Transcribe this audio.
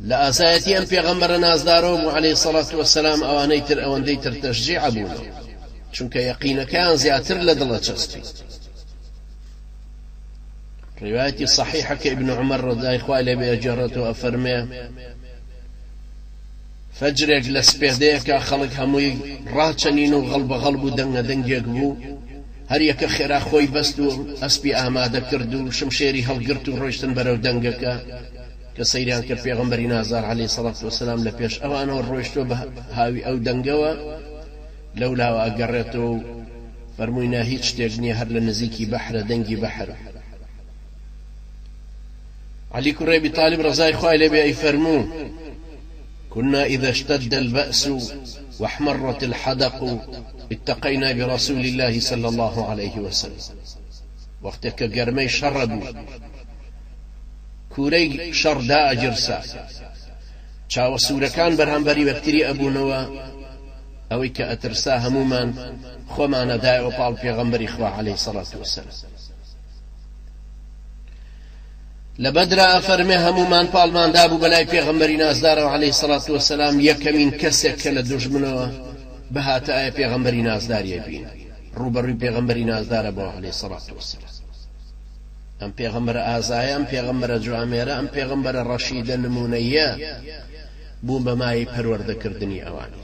لە ئازایەتی ئەم پێغەمبەرە نازدارەوە بوو علیە سەڵات وەسەلام ئەوانەی تر ئەوەندەی تر تەشجیع بوونەوە چونکە یەقینەکەیان زیاتر لە دڵە چەسپی ڕواەتی صحیحەکە ابن عمر ڕزای خوای لەبێ ئەجێڕێتەوە ئەفەرمێ فەجرێک لە سپێدەیەکا خەڵک هەمووی ڕاچەنین و غەڵبەغەڵ بوو دەنگە دەنگێک بوو هەر یەکە خێرا خۆی بەست و ئەسپی ئامادە کرد و شمشێری هەڵگرت و ڕۆیشتن بەرەو دەنگەکە کە سەیریان کرد پێغەمبەری نازار عەلەیهی سەڵات وەسەلام لە پێش ئەوانەوە ڕۆیشتوە بە هاوی ئەو دەنگەوە لەولاوە ئەگەڕێتەوە و فەرمووی نا هیچ شتێک نییە هەر لە نزیکی بەحرە دەنگی بەحر علی کوڕی ابی طالب ڕەزای خوای لێبێ ئەیفەرموو، کنا اذا اشتد الباس واحمرت الحدق اتقینا برسول اللە صلی اللە علیە وسلم، وەختێ کە گەرمەی شەڕ ئەبوو کوورەی شەڕ دائەگیڕسا چاوە سوورەکان بەرامبەر یەکتری ئەبوونەوە، ئەوەی کە ئەترسا هەموومان خۆمان ئەدایەوە پاڵ پێغەمبەری خوا علیە سەڵات وسلام. لەبەدرا ئەفەرمێ هەموومان پاڵمان دابوو بەلای پێغەمبەری نازدارەوە علیە سەڵات وەسەلام یەکەمین کەسێک کە لە دوژمنەوە بهاتە ئایا پێغەمبەری نازداریە بین ڕوبەڕوی پێغەمبەری نازدارە بۆ علی سەڵات وەسەلام ئەم پێغەمبەر ئازایە ئەم پێغەمبەرە جوامێرە ئەم پێغەمبەرە ڕەشیدە نمونەیە بوو بەمای پەروەردەکردنی ئەوانی